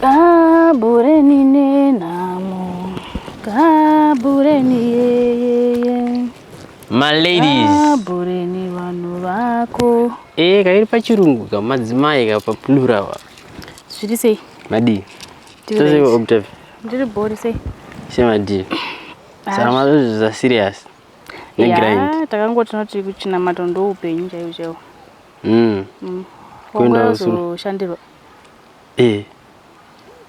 Kabureni nenamo, kabureni yeyeye. Ma ladies. Kabureni vanhu vako. Eh, kairi pachirungu ka madzimai ka pa plural wa. Zviri sei? Madii. Tose ko Octave. Ndiri bhori sei? Shema dii. Saka mazozvi za serious. Ne yeah, grind. Takangoti tinoti kuchina matondo upenyu chaiwo chaiwo. Mm. Mm. Kuenda usuru. Shandirwa. Eh.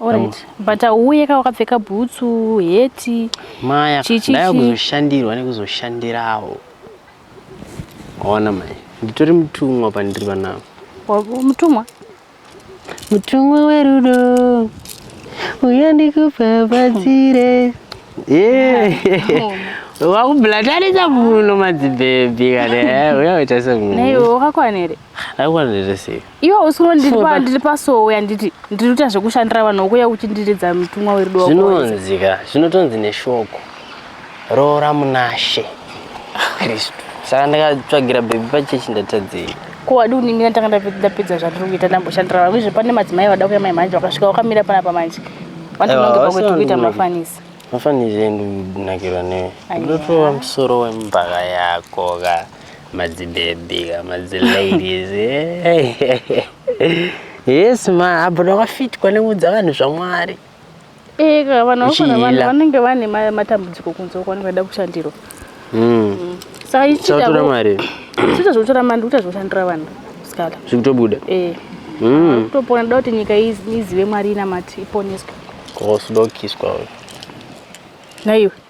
Alright. But auye ka wakapfeka bhutsu, heti. Maya, ndaya kuzoshandirwa nekuzoshandirawo. Ona mai, nditori mutumwa pandiri panapa. Mutumwa? Mutumwa werudo. Uya ndikupapatsire. Yeah. Oh. wakublatanisa muno madzibhebhi kana eh, uya waita semunhu naiwe wakakwana here akakwana here sei Iwe hausi kunoti ndiri pa ndiri pasowe handiti ndiri kuita zvekushandira vanhu wokuya uchindiridza mutumwa werudo wako wese. zvinonzi ka zvinotonzi neshoko roora munashe kristu saka ndakatsvagira bhebi pachechi ndatadzei Ko wadi kuningira ndanga ndape- ndapedza zvandiri kuita ndamboshandira vanhu izve pane madzimai vada kuya mai manje vakasvika wakamira panapa manje. Wati Aiwa, unonge hausi pakuti kuita vanhu mafanisi. mafanisi endu ndinakirwa newe Aiwa. ndotowa musoro wembaka yako ka Madzibebi, madziladies. Eh. yes ma, apo ndakafit kwane kuudza vanhu zvaMwari. Eh, ka vanhu vakona vanhu vanenge vane matambudziko kunze uko vanenge vachida kushandirwa. Mm. Mm. Saka ichita so, mari. Sita zvotora mari ndikuita zvoshandira vanhu. Sikala. Zvikutobuda. Eh. Mm. Kutopona da kuti nyika izive Mwari ina mati iponeswe. Kosidokiswa. Naiwe.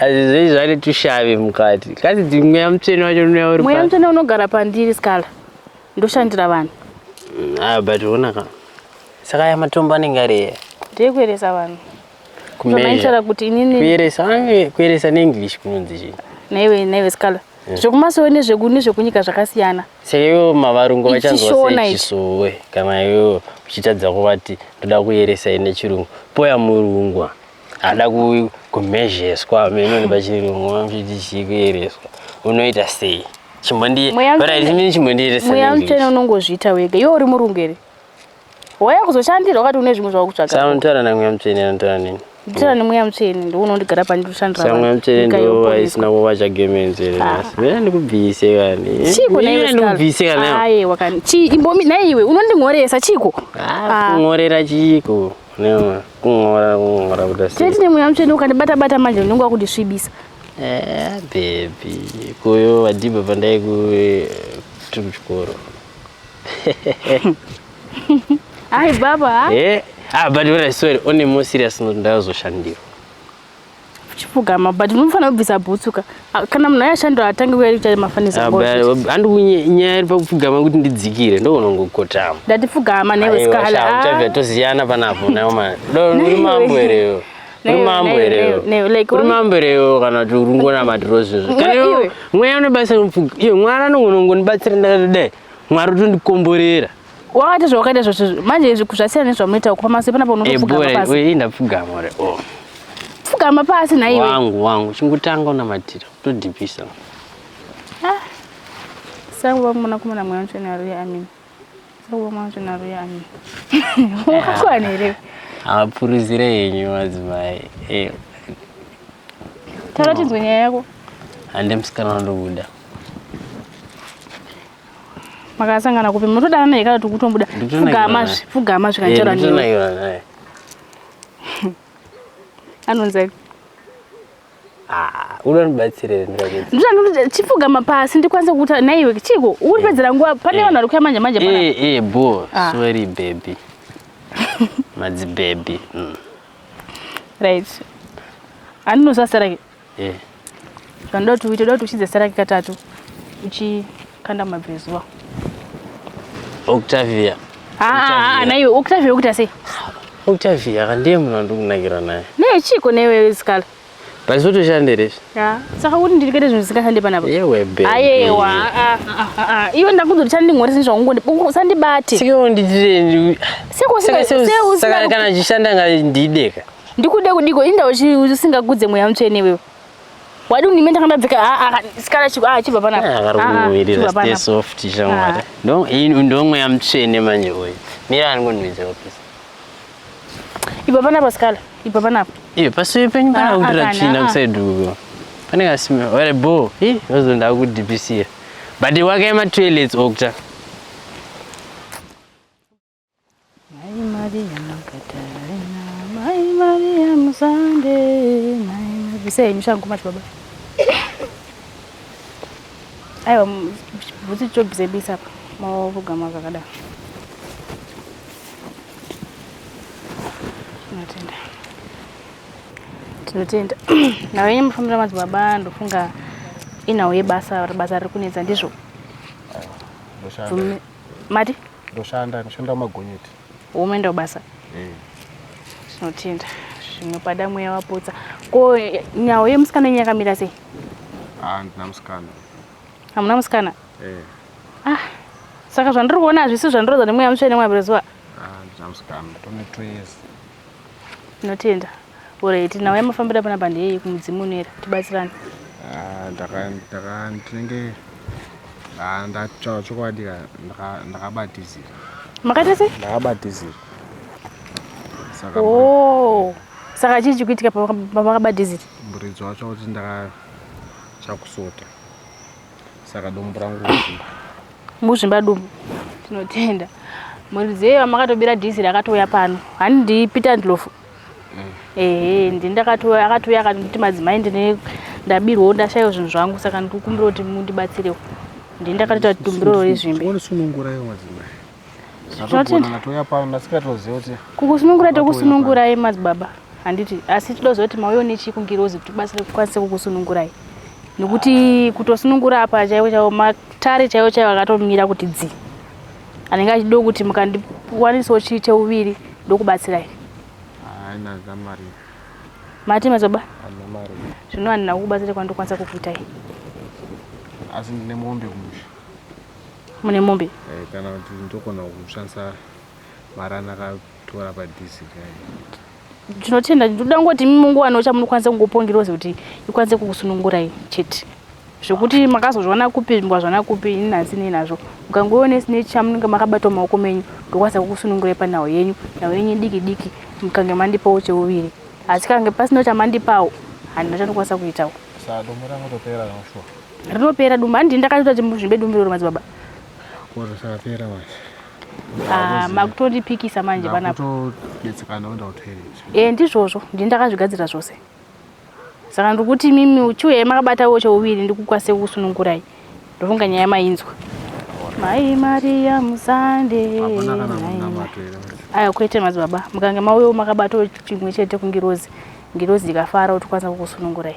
Azizei zvane tushavi mukati. Kasi mweya mutsvene wacho unoya uri Mweya mutsvene unogara pandiri Scala. Ndoshandira vanhu. Mm, ah but ona ka. Saka ya matombo anenge ari here? Ndeyekueresa vanhu. Kumeasure. kuti inini. Kueresa ange kueresa neEnglish kunonzi chii? Naiwe naiwe Scala. Eh. Zvekumasowe nezveku nezvekunyika zvakasiyana. Seiwo mavarungu vachanzwa sei chisowe kana iwe uchitadza kuvati ndoda kueresa ine chirungu. Poya murungwa. ada kumhezheswa amene pachirungu vamchiti chii kuyereswa unoita sei chimbondiiini chimbondiiresamweya mutsvene unongozviita wega iwe uri murungu here waya kuzoshandira wakati une zvimwe zvawakutsvakaanotaura namweya mutsvene anotaura nini nditaura nemweya mutsvene ndo unondigara pandirikushandiramweya mutsvene ndo aisina kuva chagemenzere ah. vena ndikubvise kani chiko ndikubvise kanaaiwa kani chii imbomi naiwe unondinhoresa chiko ah, ah. kunhorera chiiko nema Kungora kungora kuda sei? Tete nemweya mutsvene ukandibata bata manje unenge wakundisvibisa. Eh, baby. Kuyo vadhibha pandai ku tiri kuchikoro. Hayi baba. Eh, ah but when I saw it only more serious note ndazoshandirwa. chipfugama but unofanira kubvisa bhutsu ka kana munhu ayashandira atange uya kuita mafanizanyaya iri pakupfugama kuti ndidzikire ndokunongokotama ndati pfugama newe skalaachavya ah. tosiyana panapo nayo mani uri mambo ereyo uri mambo ereyo uri mambo ereyo kana kuti uri ngonamatiro zvezvo kana mweya unobasa mupfuga iyo mwari anongonongondibatsira ndakati dai mwari utondikomborera wakaita zvawakaita zvose manje izvi zvasiyana nezvamunoita uko pamasi panapa unotopfugama eh, pasi eh, ndapfugama re oh. pfugama pasi naiwe wangu wangu chingotanga unamatira kutodhipisa ah. sangu vamuna kumana mweya mutsvene aruya amini sangu vamuna mutsvene aruya amini wakakwana here hapuruzire henyu madzimai eh. taura tinzwe nyaya yako hande musikana wandobuda makasangana kupi munotodanana here kana tikutombuda pfugama pfugama zvikanjera eh, nini anonzi aipi ndozvandinochipfugama pasi ndikwanise kukuta naiwe chiko uri pedzera nguva pane eh. vanhu vari kuya manje manje eh, bo ah. sorry baby madzi baby mm. right andinozasarake eh zvanoda kuti uite kuti uchidze saraki katatu uchikanda mabvezuva octavia haa naiwe octavia ukuta sei octavia kandiye munhu andikunakira naye naye chiiko newe sikala paizotoshande rese saka kuti ndiri kuita zvinhu zvisingashande panapa ayewa iwe ndakudzo kuti chandingori sini zvakungondi usandibate sekosikana achishanda ngandideka Ndikude kudiko inda usingakudze mweya mutsvene iwewe. Wadi unime ndakandabvika a a sikala chibva a ah, chibva pana. Ah, vari ah, kuvirira stay soft shamwari. Ndo ndo mweya mutsvene manje uyu. Mira ari kunwidza office. Ibva pana pasikala. Ibva pana apa. Iyo pasi penyu kana kudira tsvina kuside uko. Pane kasima wale bo. Hi wazonda ku DPC. But wake ma toilets okta. Mai Maria Magdalena, Mai Maria Musande, Mai Maria. Bisa yenyu shangu mati baba. Aiwa bhutsu chobvise bisa apa. Mavogama kakadaro. Tinotenda. Tinotenda. Nawe yenyu mufambira madzibaba ndofunga inawo yebasa basa riri kunetsa ndizvo. Mati? Ndoshanda, ndoshanda mumagonyeti. Umeenda kubasa? Eh. Tinotenda. Zvimwe pada mweya wapotsa. Ko eh, nyawo yemusikana yenyu yakamira sei? Ah, ndina musikana. Hamuna musikana? Eh. Ah. Saka zvandiri kuona hazvisi zvandiroza nemweya mutsvene mwabirezuva? Ah, ndina musikana. Tone twese. Tinotenda. Alright, nhau yamafambira panapa ndeyei kumudzimu unoera tibatsirane. Ah, ndaka ndaka ndinenge ah, ndataura chokwadi ka ndaka- ndakabatizira Makaita sei? ndakabatizira saka mburi- Oh. Saka chii chikuitika pamakabatizira? muridzi wacho kuti ndaka chakusota saka dumbu rangu rikuzvimba. Muzvimba dumbu. Tinotenda. Muridzi yeyo makatobira dhiziri akatouya pano. Hani ndi Peter Ndlovu. ehe ndi ndakatouya akatouya akanditi madzimai ndine ndabirwawo ndashayiwa zvinhu zvangu saka ndikukumbira kuti mundibatsirewo ndi ndakatoita tumbiroro rezvimbi kukusunungura tokusunungurai madzibaba handiti asi tida kuziva kuti mauyo nechii kungirozi kuti tibatsire kukwanise kukusunungurai nekuti kutosunungura apa chaivo chaivo matare chaivo chaivo akatomira kuti dzii anenge achido kuti mukandiwanisawo chii cheuviri ndokubatsirai mati mazoba zvino handina kukubatsira kwandokwanisa kukuitai asi ndine mombe kumusha mune mombe eh, kana kuti ndogona kushandisa mari anaka tora padhizi kai tinotenda ndinoda kungoti imi mungowanawo chamunokwanisa kungopongiroze kuti ikwanise kukusunungurai chete zvekuti makazozviwana kupi mukazviwana kupi ini nhasi nei nazvo mukangoone sine chamunenge makabatawo maoko menyu ndokwanisa kukusunungurai panhau yenyu nhau yenyu diki diki mukange mandipawo cheuviri asi kange pasinawo chamandipawo handina chandokwanisa kuitawo rinopera dumba handii ndakatoita kuti muzvimbe dumbu rero madzibaba Ah, makutondipikisa manje panapotodetsekana kuenda kutoilet e eh, ndizvozvo ndini ndakazvigadzira zvose saka ndikuti mimi uchiuya ye makabata wo chouviri ndikukwase kusunungurai ndofunga nyaya mainzwa mai maria musande aya kwete madzibaba mukange mauyawo makabatawo chimwe chete kungirozi ngirozi ikafara utikwanisa kukusunungurai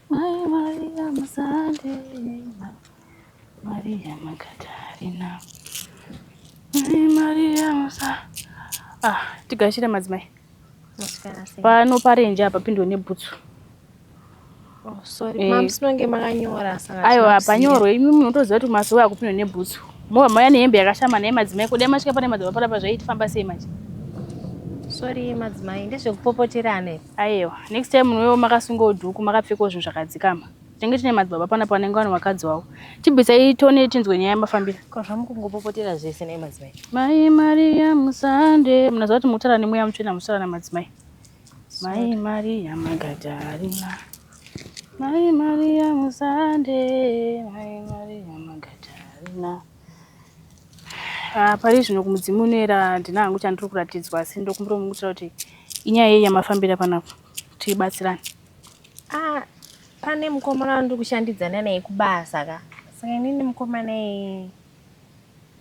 Mai Maria Musandeina, Maria Magdalena. Mai Maria Musa. Ah, tigashire madzimai. Pano parenje apa pindwe nebhutsu. Oh, sorry. Eh. Mom, sinonge makanyora saka. Aiwa, panyorwe imi munotoziva kuti masowe akupindwa nebhutsu. Mova maya nehembe yakashama naye madzimai kudai masvika pane madzimai parapa zvaitifamba sei manje. Sorry madzimai, ndezvekupopoterana ipo. Ayewa next time munhuwewo makasungawo dhuku makapfekawo zvinhu zvakadzikama tinenge tine madzibaba panapa vanenge vane vakadzi wavo tibvisai tone tinzwe nyaya yamafambira ko zvamukungopopotera zvese nei madzimai mai mariya musande munaziva kuti mutara nemweya mutsvena musara namadzimai mai mariya magadarina mai mariya musande mai mariya magadarina Ah, pari zvino kumudzimu unoera handina hangu chandiri kuratidzwa asi ndokumbira kumukutira kuti inyaya yei yamafambira panapa tibatsirane ah, pane mukomana wandiri kushandidzana naye kubasa ka saka inini mukomana iyeye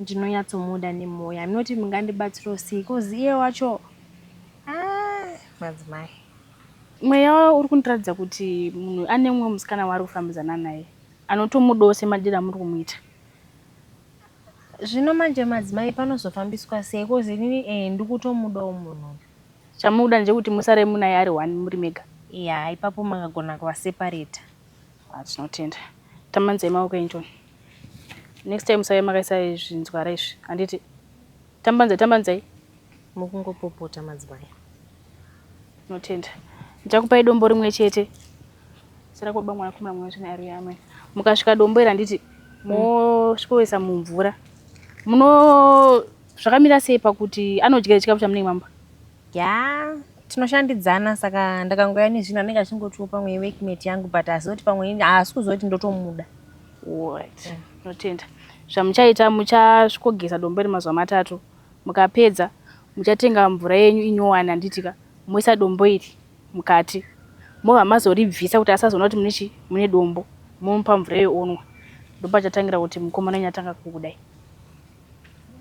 ndinonyatsomuda nemwoyo aminoti mungandibatsiro sei bcause iye wacho ah, madzimai mweya uri kundiratidza kuti munhu ane mumwe musikana waari kufambidzana naye anotomudawo semadiro amuri kumuita Zvino manje madzimai panozofambiswa sei coz inini eh ndikutomudawo munhu uyu. Chamunoda ndechekuti musare munaye ari one muri mega. Yaa ipapo makagona kuva separater. Haa tinotenda. Tambanzai maoko enyu tione. Next time musave makaisa zvinzwara izvi handiti. Tambanzai tambanzai. Mukungopopota madzibaya. Notenda. Ndichakupai dombo rimwe chete. Sara kwa bamwana kumra mwana chene ari yamwe. Mukasvika dombo ira nditi mosvikoisa mumvura. Muno zvakamira sei pakuti anodya chikafu chamunenge mamba? Yeah tinoshandidzana saka ndakangoya nezvinhu anenge achingotiwo pamwe workmate yangu but asi kuti pamwe haasi kuzoti ndotomuda What? Yeah. Notenda. Zvamuchaita muchasvikogeza dombo iri mazuva matatu. Mukapedza muchatenga mvura yenyu inyowani handitika. Moisa dombo iri mukati. Mova mazoribvisa kuti asazoona kuti mune chi mune dombo. Momupa mvura iyo onwa. Ndopachatangira kuti mukomana wenyu atanga kukudai.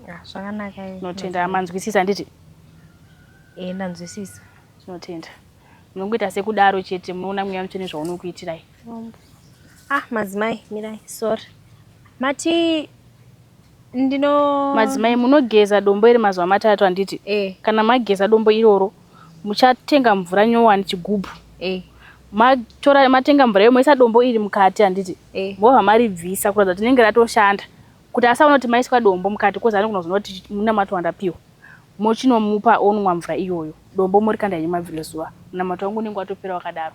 Ah, zvakanaka. Notenda. Manzwisisa handiti? Eh, ndanzwisisa. Tinotenda. Munongoita sekudaro chete munoona mweya mutsvene zvaunokuitirai. Ah, madzimai mirai sorry mati ndino madzimai munogeza dombo iri mazuva matatu handiti eh. kana mageza dombo iroro muchatenga mvura nyowani chigubhu eh. matora matenga mvura iyo moisa dombo iri mukati handiti eh. mobva maribvisa kuratidza kuti rinenge ratoshanda kuti asaona kuti maiswa dombo mukati kozi anogona kuzoona kuti munamato wandapiwa mochinomupa onwa mvura iyoyo dombo morikanda yenyu mabvire zuva munamato wangu unenge watopera wakadaro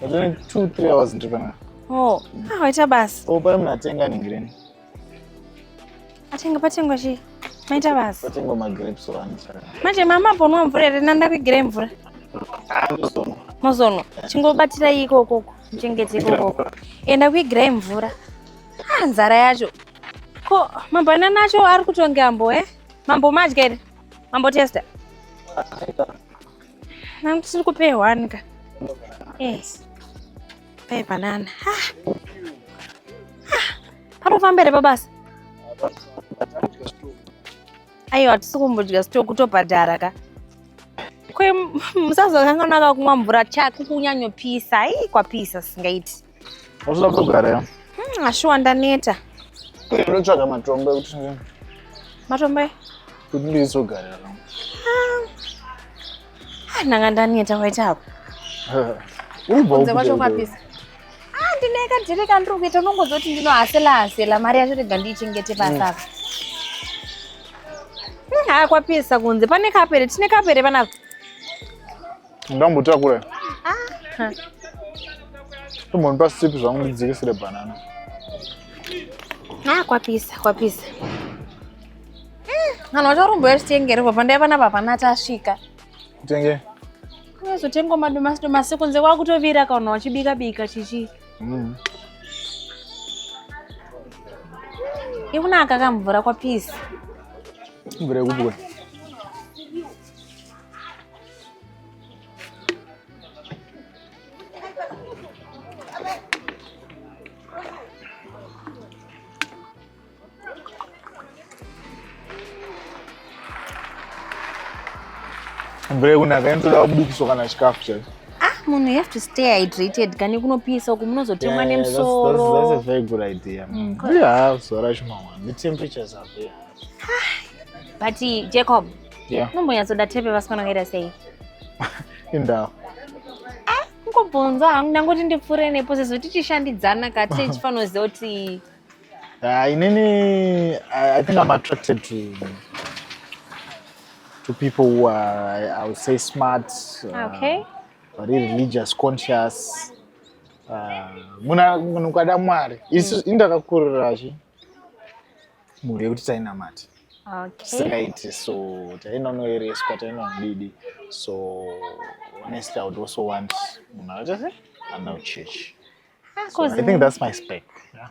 Ndine two three hours ndiri panapa. Oh, ah, waita basa. Oh, pari munatenga ningireni. Atenga patengwa chii? Maita basa. Patengwa magrapes wani. Manje mama apo unwa mvura here nanda kuigire mvura? Ah, mozonwa. Mozonwa. Chingobatira iko koko. Chengete iko koko. Enda kuigire mvura. Ah, nzara yacho. Ko mabanana acho ari kutonge ambo eh? Mambo madya here? Mambo testa. Ah, Nangu kupe one ka. Yes. Pay banana. Ha. Ha. Pano fambere babasa. Ayo hatisi kumbodya sitoku kutobhadhara ka. Kwe musazokanganaka kumwa mvura chako kunyanyopisa. Ii kwapisa singaiti. Unoda kugara ya? Hmm, ashuwa ndaneta. Kuri unotsvaga matombo ekuti Matombo e? Kuti ndizogara ya. Ah, nanga ndaneta waita apa. Uribva uko. Ndakwacho kwapisa. Ah, ndineka ndiri kandiri kuita unongozoti ndinohasela hasela mari yacho rega ndiichengete basa apa. Hmm. Haa kwapisa kunze pane kapere tine kapere vana Ndambotakura. Ah. Tombonipa sipi zvangu ndidzikisire banana. Ah, kwapisa, kwapisa. Kana hmm, ucharumbo yachitengere baba ndaiva na baba nati asvika. Kutenge. Kunozotenga madomasi domasi kunze kwakutovira kana wachibika bika chichi. Mm. Ikunaka kamvura kwapisa. Mvura yekubwa. Mbere kuna kaenzi da kubikiswa kana chikafu chacho. Ah, munhu you have to stay hydrated kani kunopisa uku munozotemwa nemusoro. That's, that's, that's a very good idea. Mm, yeah, zuva racho mawana. The temperatures are there. Ah, but Jacob, Yeah. Unombonyatsoda tepe vasikana vakaita sei? Indawo. Ah, kungobvunza hangu ndangoti ndipfuure nepo sezvo tichishandidzana ka tee chifanoziva kuti Ah, inini I, I think I'm attracted to to people who are I would say smart. Uh, okay. Very religious conscious. Uh, muna munhu kwada Mwari. Isi mm. indakakurira chi. mhuri yekuti tainamati straight so tainonoereswa tainodidi so honestly i would also want munhu akaita anda kuchurch so i think that's my spec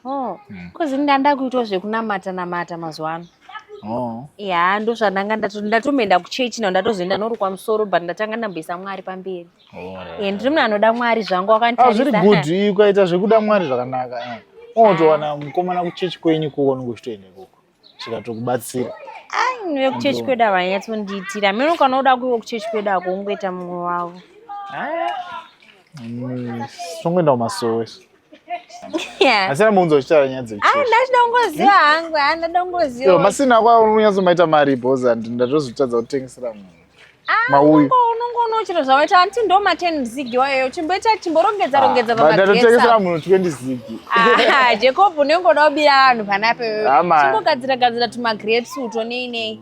oh, mm. kozi ndanda kuitwa zvekunamata namata mazuva ano oh. ya ndozvandanga ndatoenda kuchechi nao ndatozoenda norukwa musoro but ndatanga ndamboisa mwari pamberi Eh, ndiri munhu anoda mwari zvangu wakanditarisa zviri good ukaita zvekuda mwari zvakanaka eh. unotowana mukomana kuchechi kwenyu kuko unenge uchitoenda ikoko zvikatokubatsira aiwe kuchechi kwedu ava anyatsondiitira mino ukanoda kuiwo kuchechi kwedu ako ungoita mumwe wavo mm, songoenda kumasowe asi ramuunza uchitaura nyaya dzechindachida ah, kungoziva hangu andaida ah, kungoziva masina ako unonyatsomaita mari bhozi and ndatozotadza kutengesera munhu mauyu unongoona chiro zvawaita hanti ndo maten zigi wayoyo chimboita chimborongedza ah, rongedza pamatotengesera munhu 20 zigi ah, jacob unenge uda kubira vanhu panape ah, chimbogadzira gadzira tumagrapes uto nei nei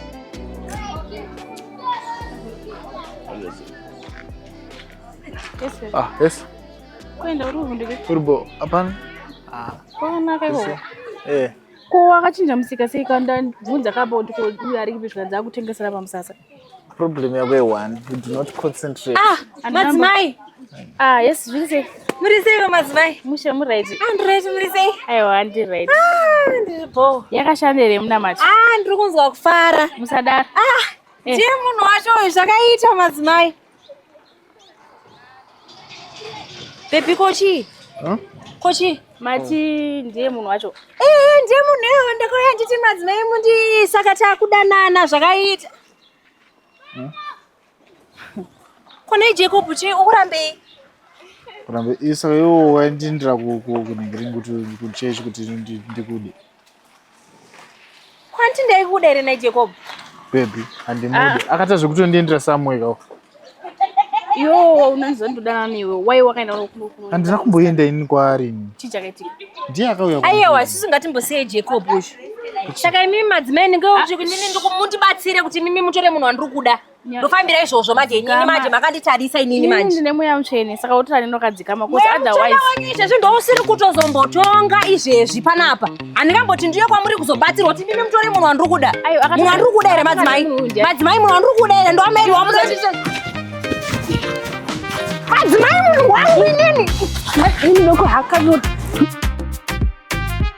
Ah, yes. Kwenda uri kuvundire. Uri bo, apana? Ah. Kona kai bo. Eh. Ko wakachinja musika sei kanda bvunza ka bo ndiko uyu ari kipi zvikanzi akutengesera pamusasa. Problem yako ye one, you do not concentrate. Ah, madzimai. Ah, yes, zviri sei? Muri sei vamadzimai? Mushe muri right. Ah, ndiri right, muri sei? Aiwa, ndiri right. Ah, ndiri bho. Yakashanda here munamato? Ah, ndiri kunzwa kufara. Musadaro. Ah, eh. ndiye munhu wacho uyu zvakaita madzimai. Baby kochi? Huh? Kochi? Mati ndiye munhu wacho. Eh, ndiye munhu iwe ndakauya nditi madzimai mundi saka takudanana zvakaita. Huh? Kune Jacob chii ukurambei? Kurambe isa yo waindindira ku ku kunengering kuti kuchechi kuti ndi- ndikude. Kwanti ndaikuda here na Jacob? Baby handimude. Akaita zvekutondiendera somewhere ka. Yo unonzondodana newe. Why wakaenda kuno kuno? Handina kumboenda ini kwaari. ini. Chii chakaitika? Ndiye akauya. Ayewa kuno. sisi ngatimbosiye Jacob uyu. saka imimi madzimai ndinge ah. kuti inini ndikumutibatsire kuti imimi mutore munhu wandiri kuda ndofambira izvozvo manje inini manje makanditarisa inini manje ndine mweya mutsvene saka wotora nini wakadzikama bcause otherwise izvezvi ndousiri kutozombotonga izvezvi panapa handingamboti ndiye kwamuri kuzobatsirwa kuti imimi mutore munhu wandiri kuda munhu wandiri kuda here madzimai madzimai munhu wandiri kuda here ndoameri wamuno madzimai munhu wangu inini ini nokuhakanoti